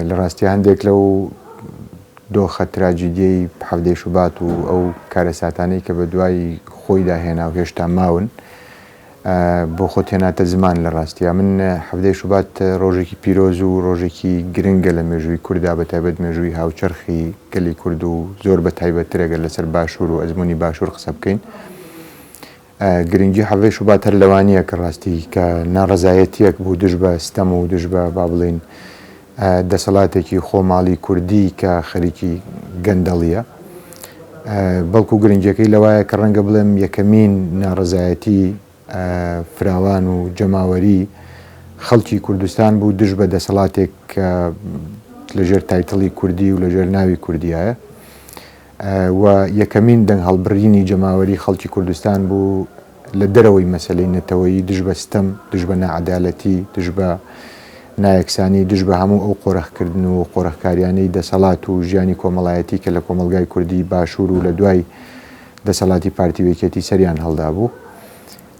لە ڕاستیا هەندێک لەو دۆخە تراجیدیەی حەڤدەی شوبات و ئەو کارەساتانەی کە بە دوای خۆیدا هێنا و هێشتا ماون بۆ خۆت هێناتە زمان لە ڕاستیا من حەڤدەی شوبات ڕۆژێکی پیرۆز و ڕۆژێکی گرنگە لە مێژووی کوردا بە تایبەت مێژووی هاوچەرخی گەلی کورد و زۆر بە تایبەتتر ئەگەر لەسەر باشوور و ئەزموونی باشوور قسە بکەین گرنگی حەڤەی شوبات هەر لەوە نییە کە ڕاستی کە ناڕەزایەتییەک بوو دژ بە ستەم و دژ بە با بڵێین دەسەڵاتێکی خۆماڵی کوردی کە خەریکی گەندەڵییە، بەڵکو گرنگیەکەی لەوایە کە ڕەنگە بڵێم یەکەمین ناڕەزایەتی فراوان و جەماوەری خەڵکی کوردستان بوو دژ بە دەسەڵاتێک کە لەژێر تایتڵی کوردی و لەژێر ناوی کوردیایە. و یەکەمین دەنگهەڵبڕینی جەماوەری خەڵکی کوردستان بوو لە دەرەوەی مەسەلەی نەتەوەیی دژ بە ستەم، دژ بە ناعەدالەتی، دژ بە نایەکسانی، دژ بە هەموو ئەو قۆرخکردن و قۆرخکاریانەی دەسەڵات و ژیانی کۆمەڵایەتی کە لە کۆمەڵگای کوردی باشوور و لە دوای دەسەڵاتی پارتی و یەکێتی سەریان هەڵدابوو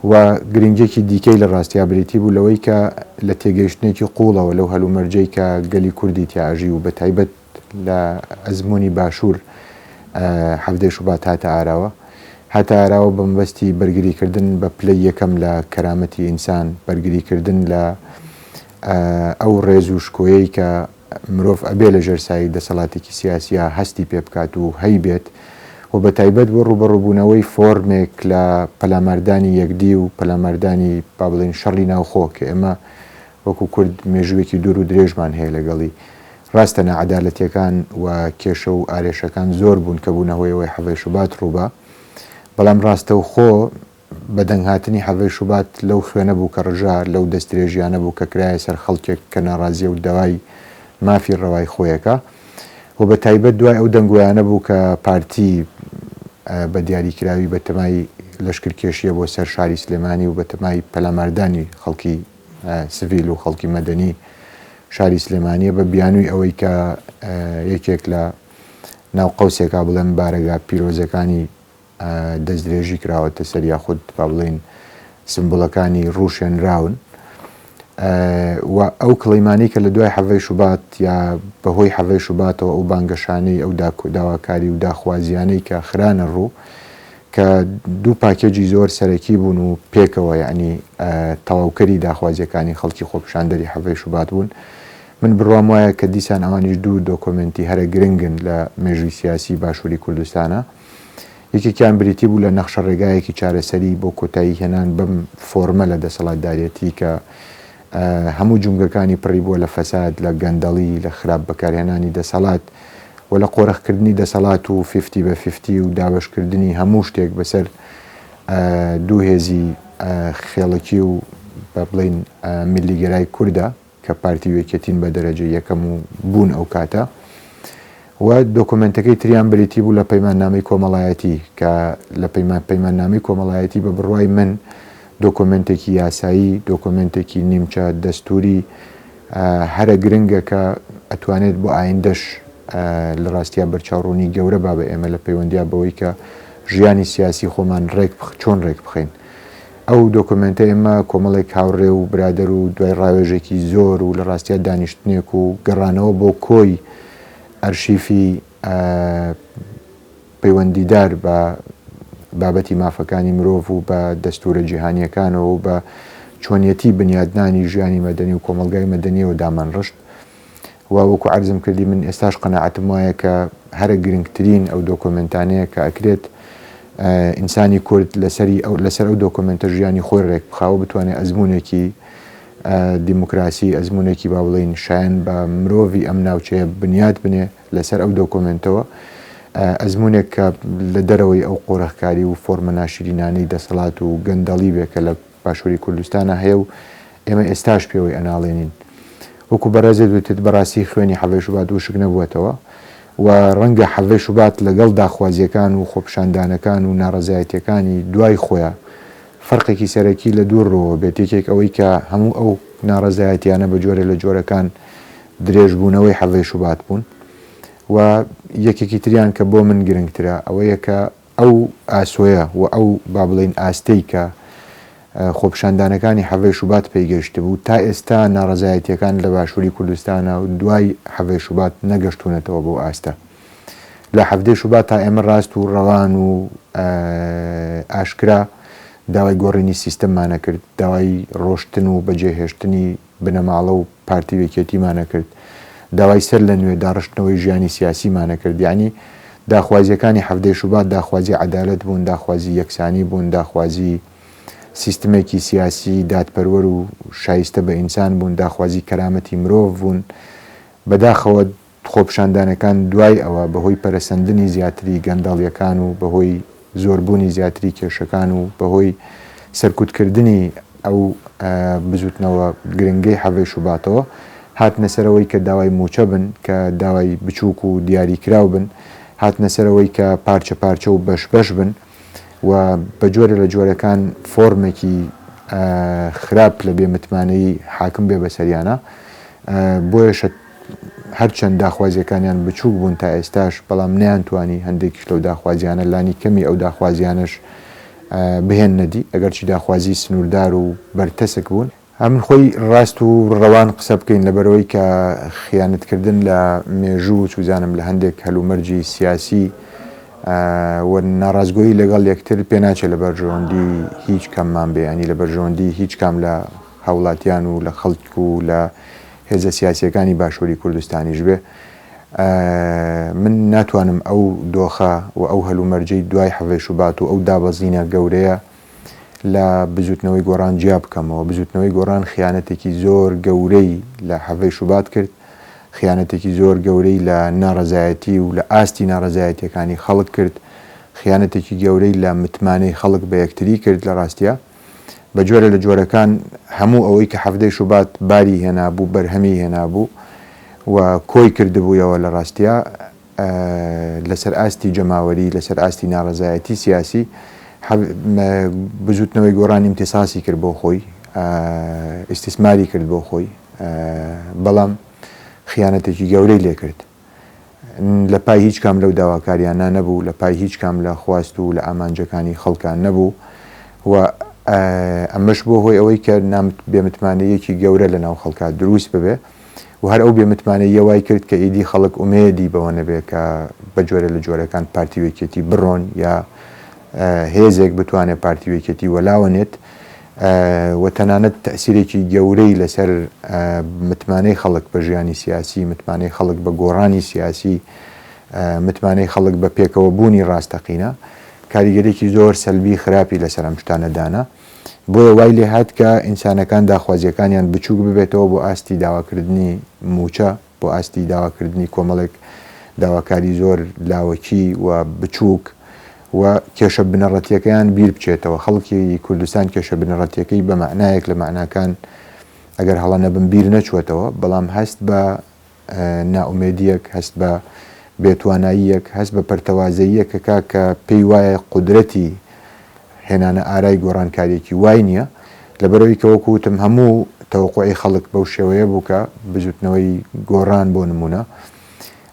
و گرنگیەکی دیکەی لە ڕاستیا بریتی بوو لەوەی کە لە تێگەیشتنێکی قووڵەوە لەو هەلومەرجەی کە گەلی کوردی تیا ئەژی و بە تایبەت لە ئەزموونی باشوور حەڤدەی شوبات هاتە ئاراوە هاتە ئاراوە بە مەبەستی بەرگری کردن بە پلەی یەکەم لە کەرامەتی ئینسان بەرگری کردن لە ئەو ڕێز و شکۆیەی کە مرۆڤ ئەبێ لە ژێر سایی دەسەڵاتێکی سیاسیە هەستی پێ بکات و هەی بێت و بە تایبەت بۆ ڕوبەڕوبوونەوەی فۆرمێک لە پەلاماردانی یەکدی و پەلاماردانی با بڵین شەڕی ناوخۆ کە ئێمە وەکو کورد مێژووێکی دوور و درێژمان هەیە لەگەڵی. ڕاستە ناعەدالەتیەکان و کێشە و ئارێشەکان زۆر بوون کە بوونە هۆی ئەوەی حەڤەی شوبات ڕووبا. بەڵام ڕاستەوخۆ بەدەنگ هاتنی حەڤەی شوبات لەو خوێنە بوو کە ڕژا، لەو دەستدرێژیانە بوو کە کرایە سەر خەڵکێک کە ناڕازیە و داوای مافی ڕەوای خۆیەکا و بە تایبەت دوای ئەو دەنگۆیانە بوو کە پارتی بە دیاریکراوی بەتەمای لەشکرکێشیە بۆ سەر شاری سلێمانی و بەتەمای پەلاماردانی خەڵکی سڤیل و خەڵکی مەدەنی شاری سلێمانیە بە بیانووی ئەوەی کە یەکێک لە ناو قەوسێکا بڵێن بارەگا پیرۆزەکانی دەستدرێژی کراوەتە سەر یاخود با بڵین سمبولەکانی ڕوشێنراون و ئەو کڵیمانی کە لە دوای حەڤەی شوبات یا بەهۆی حەڤەی شوباتەوە ئەو بانگەشانەی ئەو داواکاری و داخوازیانەی کە خرانە ڕوو کە دوو پاکێجی زۆر سەرەکی بوون و پێکەوە یەعنی تەواوکەری داخوازییەکانی خەڵکی خۆپیشاندەری حەڤەی شوبات بوون. من بڕوام وایە کە دیسان ئەوانیش دوو دۆکۆمێنتی هەرە گرنگن لە مێژووی سیاسی باشووری کوردستانا. یەکێکیان بریتی بوو لە نەخشەڕێگایەکی چارەسەری بۆ کۆتایی هێنان بەم فۆرمە لە دەسەڵاتدارێتی کە، هەموو جومگەکانی پڕی بووە لە فەساد، لە گەندەڵی، لە خراپ بەکارهێنانی دەسەڵات و لە قۆرخ کردنی دەسەڵات و فیفتی بە فیفتی و دابەش کردنی هەموو شتێک بەسەر دوو هێزی خێڵەکی و با بڵێین میللیگەرای کورددا کە پارتی و یەکێتین بە دەرەجەی یەکەم و بوون ئەو کاتە. و دۆکۆمێنتەکەی تریان بریتی بوو لە پەیماننامەی کۆمەڵایەتی کە لە پەیمان پەیماننامەی کۆمەڵایەتی بە بڕوای من دۆکۆمێنتێکی یاسایی دۆکۆمێنتێکی نیمچە دەستووری هەرە گرنگە کە ئەتوانێت بۆ ئایندەش لە ڕاستیا بەرچاوڕوونی گەورە با بە ئێمە لە پەیوەندیا بەوەی کە ژیانی سیاسی خۆمان ڕێک بخ چۆن ڕێک بخەین ئەو دۆکۆمێنتە ئێمە کۆمەڵێک هاوڕێ و برادەر و دوای ڕاوێژێکی زۆر و لە ڕاستیا دانیشتنێک و گەڕانەوە بۆ کۆی ئەرشیفی پەیوەندیدار بە بابەتی مافەکانی مرۆڤ و بە دەستورە جیهانییەکانەوە و بە چۆنیەتی بنیادنانی ژیانی مەدەنی و کۆمەڵگای مەدەنیەوە دامانڕشت و وەکو عەرزم کردی من ئێستاش قەناعەتم وایە کە هەرە گرنگترین ئەو دۆکۆمنتانەیە کە ئەکرێت ئینسانی کورد لەسەری ئەو لەسەر ئەو دۆکۆمنتە ژیانی خۆی ڕێک بخاوە بتوانێت ئەزمونێکی دیموکراسی ئەزموونێکی با بڵێین شایەن بە مرۆڤی ئەم ناوچەیە بنیات بنێ لەسەر ئەو دۆکۆمێنتەوە ئەزمونێک کە لە دەرەوەی ئەو قۆرەخکاری و فۆرمە ناشرینانەی دەسەڵات و گەندەڵی بێ کە لە باشووری کوردستانە هەیە و ئێمە ئێستاش پێوەی ئەناڵێنین وەکو بەڕێزێ دوتت بەڕاستی خوێنی حەڤێ شوبات وشک نەبووەتەوە و ڕەنگە حەڤێ شوبات لەگەڵ داخوازیەکان و خۆپشاندانەکان و ناڕزایەتەکانی دوای خۆیان فەرقێکی سەرەکی لە دوو ڕووەوە بێت، یەکێک ئەوەی کە هەموو ئەو ناڕەزایەتییانە بە جۆرێ لە جۆرەکان درێژبوونەوەی حەڤەی شوبات بوون و یەکێکی تریان کە بۆ من گرنگترە ئەوەیە کە ئەو ئاسۆیە و ئەو با بڵێین ئاستەی کە خۆپیشاندانەکانی حەڤەی شوبات پێی گەیشتبوو تا ئێستا ناڕەزایەتییەکان لە باشووری کوردستانا و دوای حەڤەی شوبات نەگەشتوونەتەوە بەو ئاستە. لە حەڤدەی شوبات تا ئێمە راست و رەوان و ئاشکرا داوای گۆڕینی سیستەممان نەکرد، داوای رۆشتن و بەجێهێشتنی بنەماڵە و پارتی و یەکێتیمان نەکرد، داوای سەر لە نوێ داڕشتنەوەی ژیانی سیاسیمان نەکرد، یەعنی داخوازییەکانی حەڤدەی شوبات داخوازی عەدالەت بوون، داخوازی یەکسانی بوون، داخوازی سیستمێکی سیاسی دادپەروەر و شایستە بە ئینسان بوون، داخوازی کەرامەتی مرۆڤ بوون، بەداخەوە خۆپیشاندانەکان دوای ئەوە بەهۆی پەرەسەندنی زیاتری گەندەڵیەکان و بەهۆی زۆربوونی زیاتری کێشەکان و بەهۆی سەرکوتکردنی ئەو بزوتنەوە گرنگەی حەڤەی شوباتەوە هاتنە سەر ئەوەی کە داوای موچە بن کە داوای بچوک و دیاری کراو بن هاتنە سەر ئەوەی کە پارچە پارچە و بەش بەش بن. و بە جۆرێ لە جۆرەکان فۆرمێکی خراپ لە بێ متمانەیی حاکم بێ بەسەریانا بۆیەشە هەرچەند داخوازیەکانیان بچووک بوون تا ئێستاش بەڵام نیان توانی هەندێکیش لەو داخوازیانە لانی کەمی ئەو داخوازیانش بهێن نەدی ئەگەرچی داخوازی سنووردار و بەرتەسک بوون هەمن خۆی ڕاست و ڕەوان قسە بکەین لەبەرەوەی کە خیانەت کردن لە مێژوو و چوزانم لە هەندێک هەلومەرجی سیاسی و ناڕاستگۆیی لەگەڵ یەکتر پێناچێ لە بەرژەوەندی هیچ کەممان بێ ینی لە بەرژەوەندی هیچ کام لە هاوڵاتیان و لە خەڵک و لە هێزە سیاسیەکانی باشوری کوردستانیش بێ من ناتوانم ئەو دۆخە و ئەو هەلومەرجەی دوای حەڤەی شوبات و ئەو دابەزینە گەورەیە لە بزوتنەوەی گۆڕان جیا بکەمەوە، بزوتنەوەی گۆڕان خیانەتێکی زۆر گەورەی لە حەڤەی شوبات کرد، خیانەتێکی زۆر گەورەی لە ناڕەزایەتی و لە ئاستی ناڕەزایەتیەکانی خەڵک کرد، خیانەتێکی گەورەی لە متمانەی خەڵک بە یەکتری کرد، لە ڕاستیا بە جۆرە لە جۆرەکان هەموو ئەوەی کە حەڤدەی شوبات باری هێنابوو بەرهەمی هێنابوو و کۆی کردبوویەوە لە ڕاستیا لەسەر ئاستی جەماوەری، لەسەر ئاستی ناڕەزایەتی سیاسی، بزوتنەوەی گۆڕان ئیمتیساسی کرد بۆ خۆی، ئیستیسماری کرد بۆ خۆی، بەڵام خیانەتێکی گەورەی لێ کرد. لە پای هیچ کام لەو داواکاریانە نەبوو، لە پای هیچ کام لە خواست و لە ئامانجەکانی خەڵکان نەبوو و ئەمەش بووە هۆی ئەوەی کە بێمتمانەییەکی گەورە لەناو خەڵکا دروست ببێ. و هەر ئەو بێ متمانەییە وای کرد کە ئیدی خەڵک ئومێدی بەوە نەبێت کە بە جۆرێ لە جۆرەکان پارتی و یەکێتی بڕۆن یا هێزێک بتوانێت پارتی و یەکێتی وەلاوە نێت و تەنانەت تەسیرێکی گەورەی لەسەر متمانەی خەڵک بە ژیانی سیاسی متمانەی خەڵک بە گۆڕانی سیاسی متمانەی خەڵک بە پێکەوە بوونی ڕاستەقینە کاریگەرێکی زۆر سەلبی خراپی لەسەر ئەم شتانەدانا بۆیە وای لێ هات کە ئینسانەکان داخوازییەکانیان بچووک ببێتەوە بۆ ئاستی داواکردنی مووچە، بۆ ئاستی داواکردنی کۆمەڵێک داواکاری زۆر لاوەکی و بچووک و کێشە بنەڕەتییەکەیان بیر بچێتەوە. خەڵکی کوردستان کێشە بنەڕەتییەکەی بە مەعنایەک لە مەعناکان ئەگەر هەڵە نەبم بیر نەچووەتەوە، بەڵام هەست بە نائومێدییەک، هەست بە بێتواناییەک، هەست بە پەرتەوازەییەکەکە کە پێی وایە قودرەتی هێنانە ئارای گۆڕانکارییەکی وای نییە، لەبەرئەوەی کە وەکو وتم هەموو تەوەقوعی خەڵک بەو شێوەیە بوو کە بزووتنەوەی گۆڕان بۆ نموونە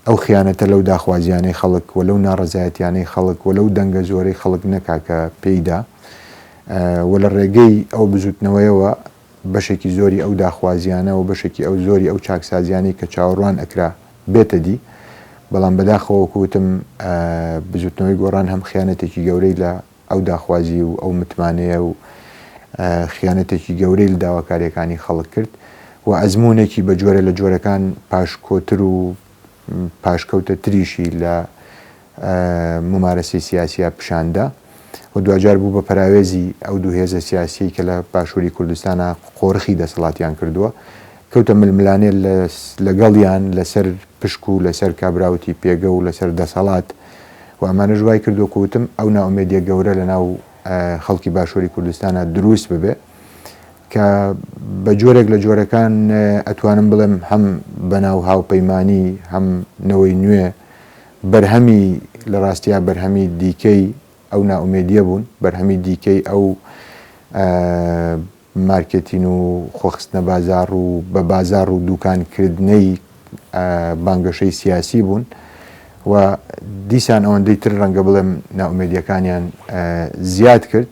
ئەو خیانەتە لەو داخوازییانەی خەڵک و لەو ناڕەزایەتییانەی خەڵک و لەو دەنگە زۆرەی خەڵک نەکا کە پێی دا و لە ڕێگەی ئەو بزووتنەوەیەوە بەشێکی زۆری ئەو داخوازیانە و بەشێکی ئەو زۆری ئەو چاکسازیانەی کە چاوەڕوان ئەکرا بێتە دی، بەڵام بەداخەوە وەکو وتم بزوتنەوەی گۆڕان هەم خیانەتێکی گەورەی لە ئەو داخوازی و ئەو متمانەیە و خیانەتێکی گەورەی لە داواکاریەکانی خەڵک کرد و ئەزمونێکی بە جۆرە لە جۆرەکان پاشکۆتر و پاشکەوتە تریشی لە مومارەسەی سیاسیا پیشان دا و دواجار بوو بە پەراوێزی ئەو دوو هێزە سیاسیەی کە لە باشووری کوردستانا قۆرخی دەسەڵاتیان کردووە، کەوتە ململانێ لەگەڵیان لەسەر پشک و لەسەر کابراوتی پێگە و لەسەر دەسەڵات و ئەمانەش وای کرد وەکو وتم ئەو نائومێدیە گەورە لەناو خەڵکی باشووری کوردستانا دروست ببێ کە بە جۆرێک لە جۆرەکان ئەتوانم بڵێم هەم بەناو هاوپەیمانی هەم نەوەی نوێ بەرهەمی لە ڕاستیا بەرهەمی دیکەی ئەو نائومێدیە بوون بەرهەمی دیکەی ئەو مارکێتین و خۆخستنە بازار و بە بازار و دوکانکردنەی بانگەشەی سیاسی بوون و دیسان ئەوەندەی تر ڕەنگە بڵێم ناومێدیەکانیان زیاد کرد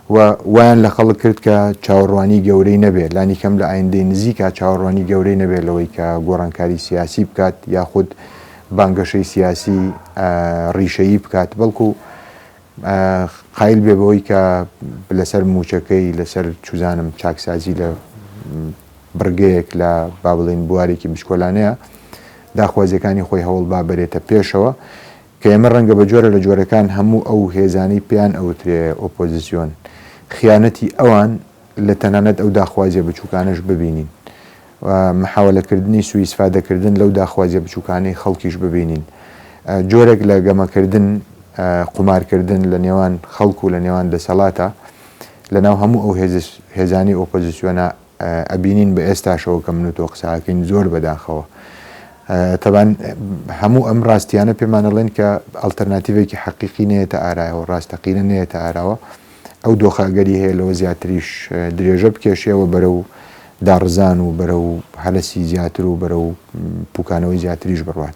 و وایان لە خەڵک کرد کە چاوەڕوانی گەورەی نەبێت لانی کەم لە ئایندەی نزیکە چاوەڕوانی گەورەی نەبێت لەوەی کە گۆڕانکاری سیاسی بکات یاخود بانگەشەی سیاسی ڕیشەیی بکات بەڵکو قایل بێ بەوەی کە لەسەر مووچەکەی لەسەر چوزانم چاکسازی لە بڕگەیەک لە با بڵێین بوارێکی بچکۆلانەیە داخوازیەکانی خۆی هەوڵ با بەرێتە پێشەوە کە ئێمە ڕەنگە بە جۆرە لە جۆرەکان هەموو ئەو هێزانەی پێیان ئەوترێ ئۆپۆزیسیۆن خیانەتی ئەوان لە تەنانەت ئەو داخوازیە بچووکانەش ببینین و محاولەکردنی سوئیسفادەکردن لەو داخوازیە بچوکانەی خەڵکیش ببینین جۆرێک لە گەمەکردن قومارکردن لە نێوان خەڵک و لە نێوان دەسەڵاتە لەناو هەموو ئەو هێزانی ئۆپۆزیسیۆنە ئەبینین بە ئێستاشەوە کە من و تۆ قساکەین زۆر بەداخەوە تەبان هەموو ئەم ڕاستیانە پێمانەڵێن کە ئەلتەرناتیڤێکی حەقیقی نێتە ئارایەوە ڕاستەقینە نێتە ئاراوە ئەو دۆخە ئەگەری هەیە لەوە زیاتریش درێژە بکێشێەوە بەرەو داڕزان و بەرەو هەرەسی زیاتر و بەرەو پوکانەوەی زیاتریش بڕوات.